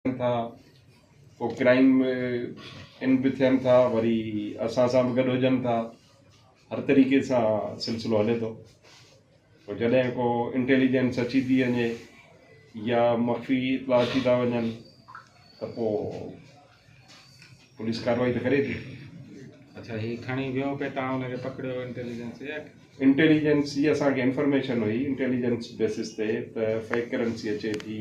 ٿين ٿا ڪو ڪرائيم ان به ٿين ٿا وري اسان سان به گڏ هجن ٿا هر طريقي سان سلسلو هلي ٿو پوء جڏهن ڪو انٽيليجنس اچي ٿي وڃي يا مخفي اطلاع اچي ٿا وڃن ته پوء پوليس ڪارروائي ته ڪري ٿي اچھا هي کڻي ويو پي تان ان کي پڪڙيو انٽيليجنس يا انٽيليجنس جي اسان کي انفارميشن هئي انٽيليجنس بيسس تي ته فيڪ ڪرنسي اچي ٿي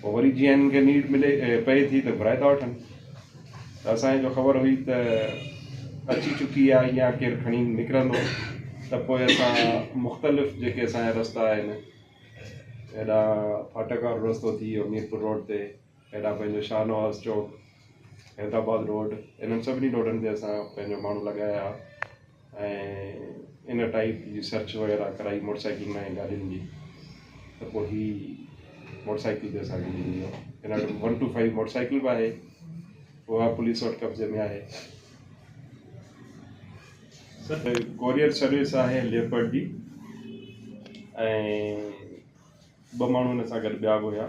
پوء وري جيئن هنن کي نيڊ ملي پئي ٿي ته گهرائي ٿا وٺن ته اسان کي جو خبر هئي ته اچي چڪي آهي يا ڪير کڻي نڪرندو ته پوء اسان مختلف جيڪي اسان جا رستا آهن هيڏانهن ڦاٽڪ وارو رستو ٿي ويو ميرپور روڊ تي هيڏانهن پنهنجو شاهه نواز چوڪ حيدرآباد روڊ انهن سڀني روڊن تي اسان پنهنجو ماڻهو لڳايا ۽ ان ٽائيپ جي سرچ وغيره ڪرائي موٽر سائيڪلن ۽ گاڏين جي ته پوء هي موٽر سائيڪل به اسان کي ملي ويو هن وٽ one two five motorcycle به آهي اها پوليس وٽ قبضي ۾ آهي سر ڪوريئر سروس آهي ليپرڊ جي ۽ ٻه ماڻهو هن سان گڏ ٻيا به هيا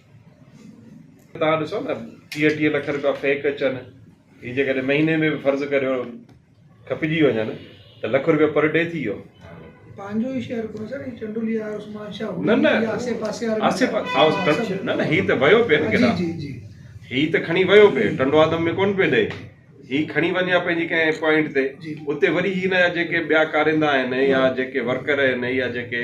توهان ڏسو نه ٽيهه ٽيهه لک رپيا فيڪ اچن هي جيڪڏهن مهيني ۾ به فرض ڪريو کپجي وڃن ته لک رپيا پر ڊي ٿي ويو پنهنجو ئي شهر ڪو سر هي چنڊولي آهي عثمان شاهه نه نه آسي پاسي وارا آسي پاسي نه نه هي ته ويو پي نه ڪيڏا جي جي هي ته کڻي ويو پي ٽنڊو آدم ۾ ڪون پي ڏي هي کڻي وڃي ها پنهنجي ڪنهن پوائنٽ تي اتي وري هي نه جيڪي ٻيا ڪاريندا آهن يا جيڪي ورڪر آهن يا جيڪي